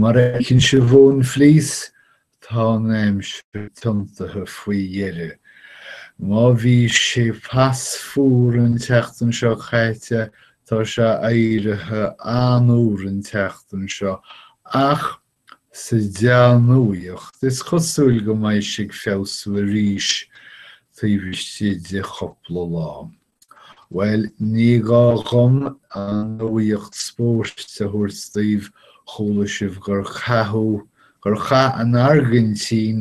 Mar a fheiceann sibh ón bhflís, tá an aimsir tiontaithe faoi dheireadh. Má bhí sé pas fuar an tseachtain seo caite, tá sé éirithe an-fhuar an tseachtain seo, ach sa dea-nuaíocht, is cosúil go mbeidh sé ag feabhsú arís taobh istigh de chupla lá. Bhuel, ní gá dhom an nuaíocht spóirt a thabhairt daoibh, chuala sibh gur caitheadh, gur chaith an Airgintín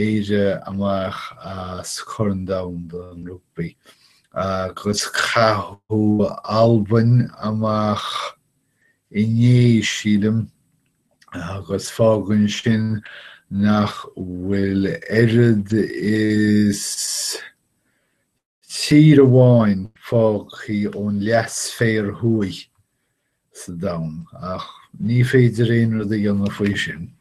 Éire amach as Corn Domhan an Rugbaí, agus caitheadh Alban amach inné, sílim, agus fágann sin nach bhfuil oiread is, Tír amháin fágtha ón leathsféar thuaidh sa domhan, ach ní féidir aon rud a dhéanamh faoi sin.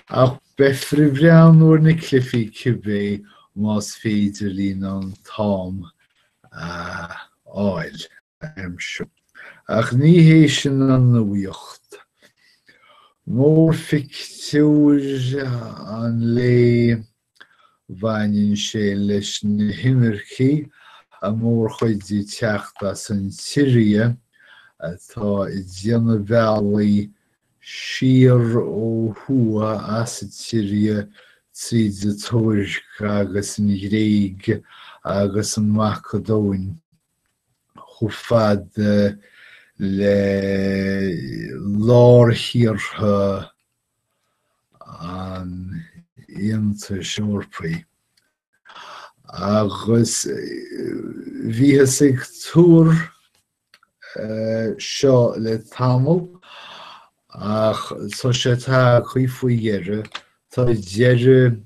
Ach beifear ag breathnú ar na cluifí cibé más féidir linn an t-am a fháil. aimsiú. Ach ní hé sin an nuaíocht. Mórphictiúr an lae, baineann sé leis na hinimircigh, an mhórchuid ag teacht as an tSiria, atá ag déanamh bealaí siar ó thuaidh as an tSiria tríd an Tuirc agus an Ghréig agus an Mhacadóin, chomh fada le lárthíortha an Aontais Eorpaigh, agus bhíothas ag tuar seo le tamall, ach tá sé tagtha faoi dheireadh. Tá deireadh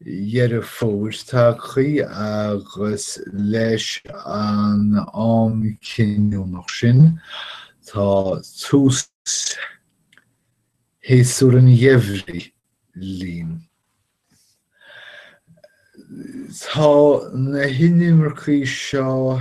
Dheireadh Fómhair tagtha agus leis an am cinniúnach sin, tá tús shéasúr an gheimhridh linn. Tá na hinimircigh seo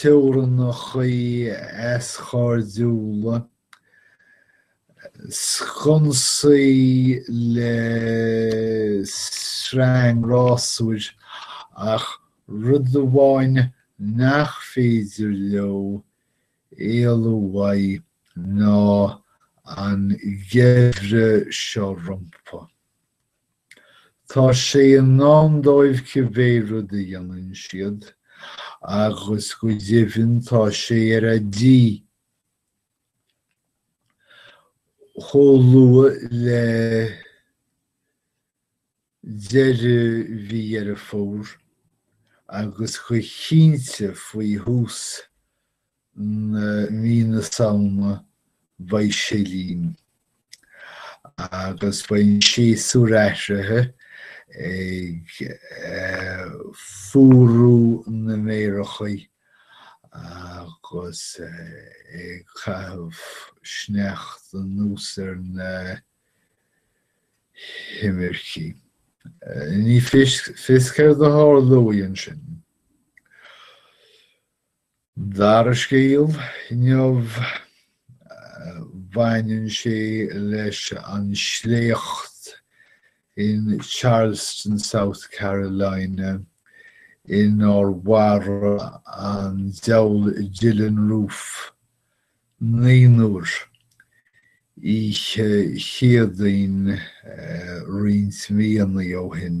teorannachaí easchairdiúla, sconsaí le sreang rásúir ach rud amháin nach féidir leo éalú uaidh ná an geimhreadh seo rompu. Tá sé i ndán dóibh cibé rud a dhéanann siad, agus go deimhin tá sé ar a tí chomh luath le deireadh mhí Dheireadh Fómhair agus go cinnte faoi thús mí na Samhna beidh sé linn agus beidh an séasúr athraithe ag fuarú na méaracha agus ag caitheamh sneachta anuas ar na himircigh. Ní fios céard a tharlóidh ansin. dara scéal inniu, baineann sé leis an sléacht in Charleston, South Carolina, inar mharaigh an diabhal Dylann Roof naonúr oíche Chéadaoin roinnt míonna ó shin.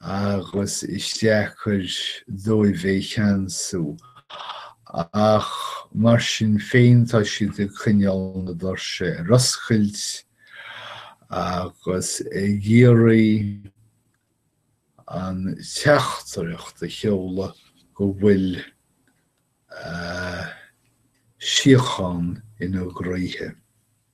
agus is deacair dóibh é cheansú, ach mar sin féin tá siad ag coinneáil na doirse ar oscailt agus ag iarraidh an teachtaireacht a sheoladh go bhfuil síochán ina gcroíthe.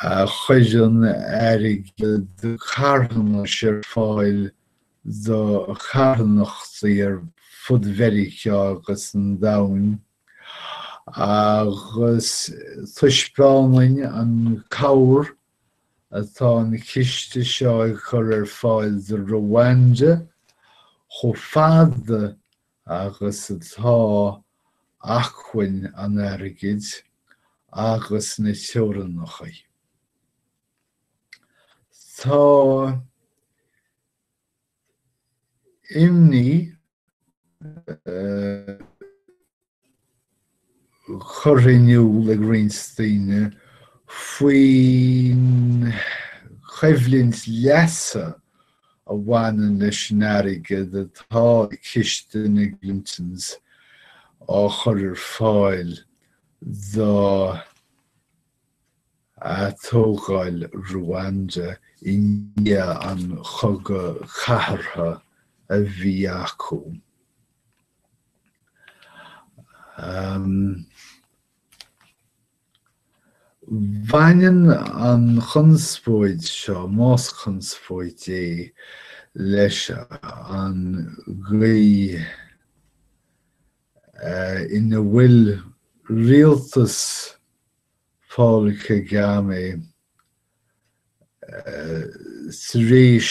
Cuireann airgead carthanais ar fáil do charthanachtaí ar fud Mheiriceá agus an Domhain, agus taispeánann an cabhair atá an ciste seo ag cur ar fáil do Ruanda chomh fada agus atá achainn an airgid agus na teorannachaí. Tá imní. curtha in iúl ag roinnt daoine faoin choimhlint leasa a bhaineann leis an airgead atá i ciste na gClintons á chur ar fáil do atógáil Ruanda i ndiaidh an Chogadh Cathartha a bhí acu. Baineann an chonspóid seo, más conspóid é, leis an gcaoi ina bhfuil rialtas Paul Kagame tar éis,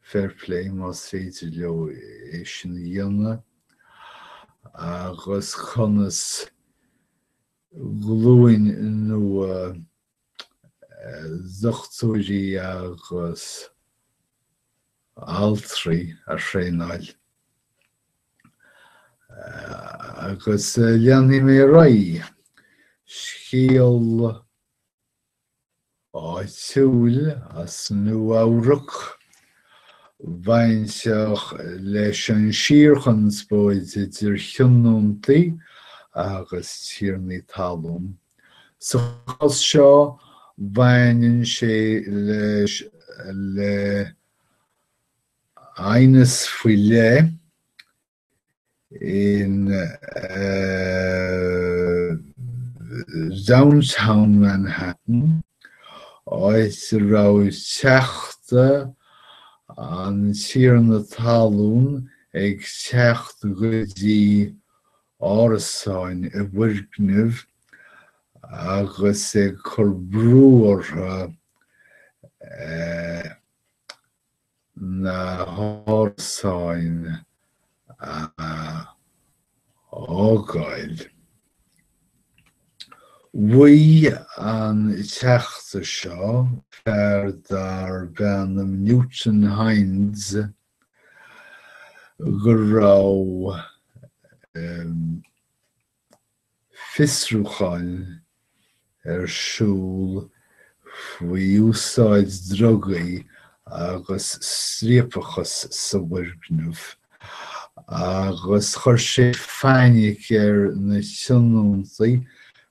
Fair play más féidir leo é sin a dhéanamh agus conas glúin nua dochtúirí agus altraí a thraenáil. Agus leanfaidh mé ar aghaidh. Scéal áitiúil as Nua-Eabhrac. Bainteach leis an síorchonspóid idir thionóntaí agus tiarnaí talún, sa chás seo baineann sé leis le haighneas faoi leith, in Downtown Manhattan, áit a raibh teachta an tiarna talún ag teacht go dtí árasáin i bhfoirgneamh agus ag cur brú orthu na hárasáin a fhágáil. Mhaígh an Teachta seo, fear darb ainm Newton Hinds, go raibh. fiosrúchán ar siúl faoi úsáid drugaí agus striapachas sa bhfoirgneamh agus chuir sé fainic ar na tionóntaí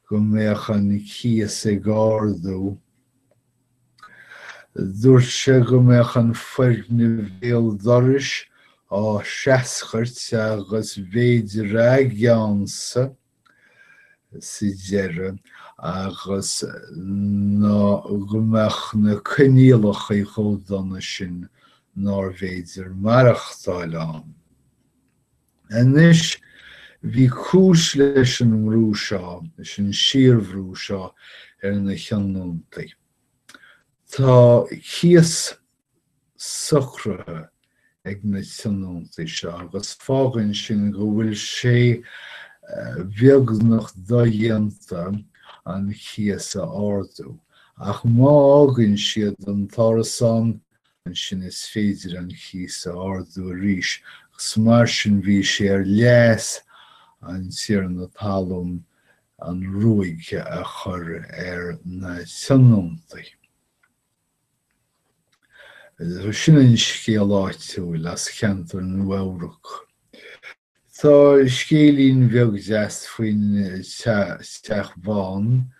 go mbeadh an cíos ag ardú. Dúirt sé go mbeadh an foirgneamh béal dorais á threascairt agus b'fhéidir a gceannsa sa deireadh agus nó go mbeadh na coinníollachaí chomh dona sin nárbh fhéidir maireachtáil ann. Anois, bhí cúis leis an mbrú seo, leis an síorbhrú seo ar na tionóntaí. Tá cíos socraithe ag na tionóntaí seo agus fágann sin go bhfuil sé beagnach dodhéanta an cíos a ardú, ach má fhágann siad an t-árasán ansin is féidir an cíos a ardú arís, agus mar sin bhí sé ar leas an tiarna talún an ruaig a chur ar na tionóntaí. Sin an scéal áitiúil as ceantar Nua-Eabhrac. Tá scéilín bheag deas faoin Teach Bán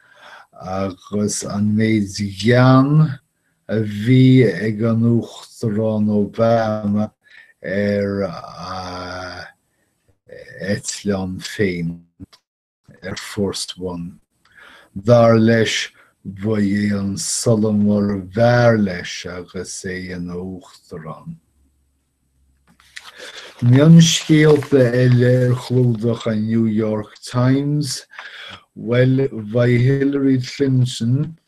agus an méid gean a bhí ag an Uachtarán Obama ar a eitleán féin. Air Force One. Dar leis, ba é an solamar ab fhearr leis agus é ina Uachtarán. Mionscéalta eile ar chlúdach an New York Times, Bhuel, beidh Hillary Clinton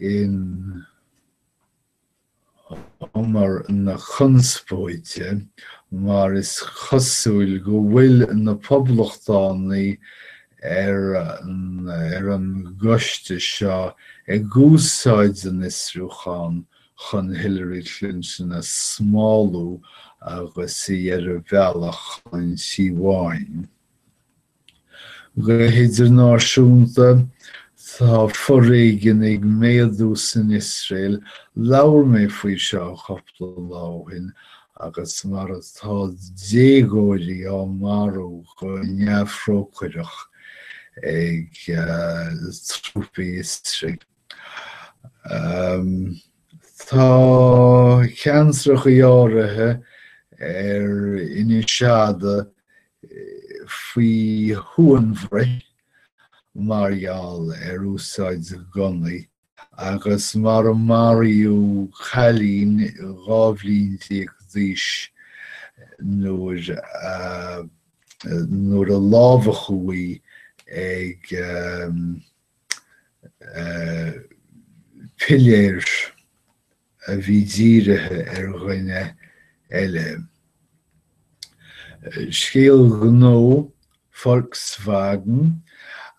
in umar na conspóide, mar is cosúil go bhfuil na poblachtánaigh ar an gcoiste seo ag úsáid an fhiosrúchán chun Hillary Clinton a smálú agus í ar a bealach chun an Tí Bháin. Go hidirnáisiúnta, tá foréigean ag méadú san Iosrael, labhair mé faoi seo cúpla lá ó shin, agus mar atá déagóirí á marú go neamhthrócaireach ag trúpaí Iosrael. Tá ceantracha áirithe ar Inis Fhada faoi shuanbhruith mar gheall ar úsáid gunnaí agus mar a maraíodh cailín dhá bhliain déag d'aois nuair a lámhachadh í ag. piléir a bhí dírithe ar dhuine eile. Scéal gnó Volkswagen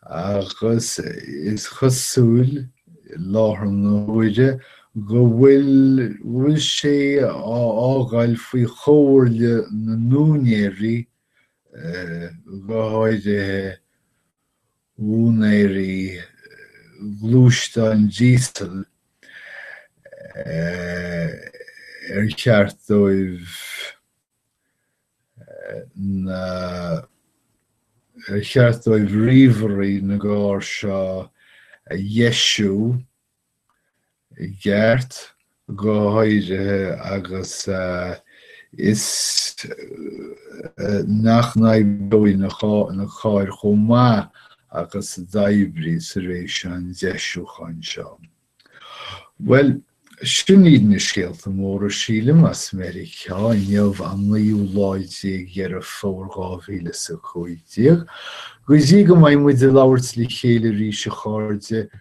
agus is cosúil i láthair na huaire go bhfuil sé á fágáil faoi chomhairle na n-úinéirí, go háirithe. úinéirí ghluaisteáin díosail ar cheart dóibh na ar cheart dóibh ríomhairí na gcarr seo a dheisiú i gceart, go háirithe agus is nach n-oibreoidh na cáir chomh maith agus a d'oibrigh tar éis an deisiúcháin seo. Bhuel, sin iad na scéalta móra, sílim, as Meiriceá inniu, an naoú lá déag de Dheireadh Fómhair dhá mhíle is a cúig déag. Go dtí go mbeidh muid ag labhairt le chéile arís, a chairde,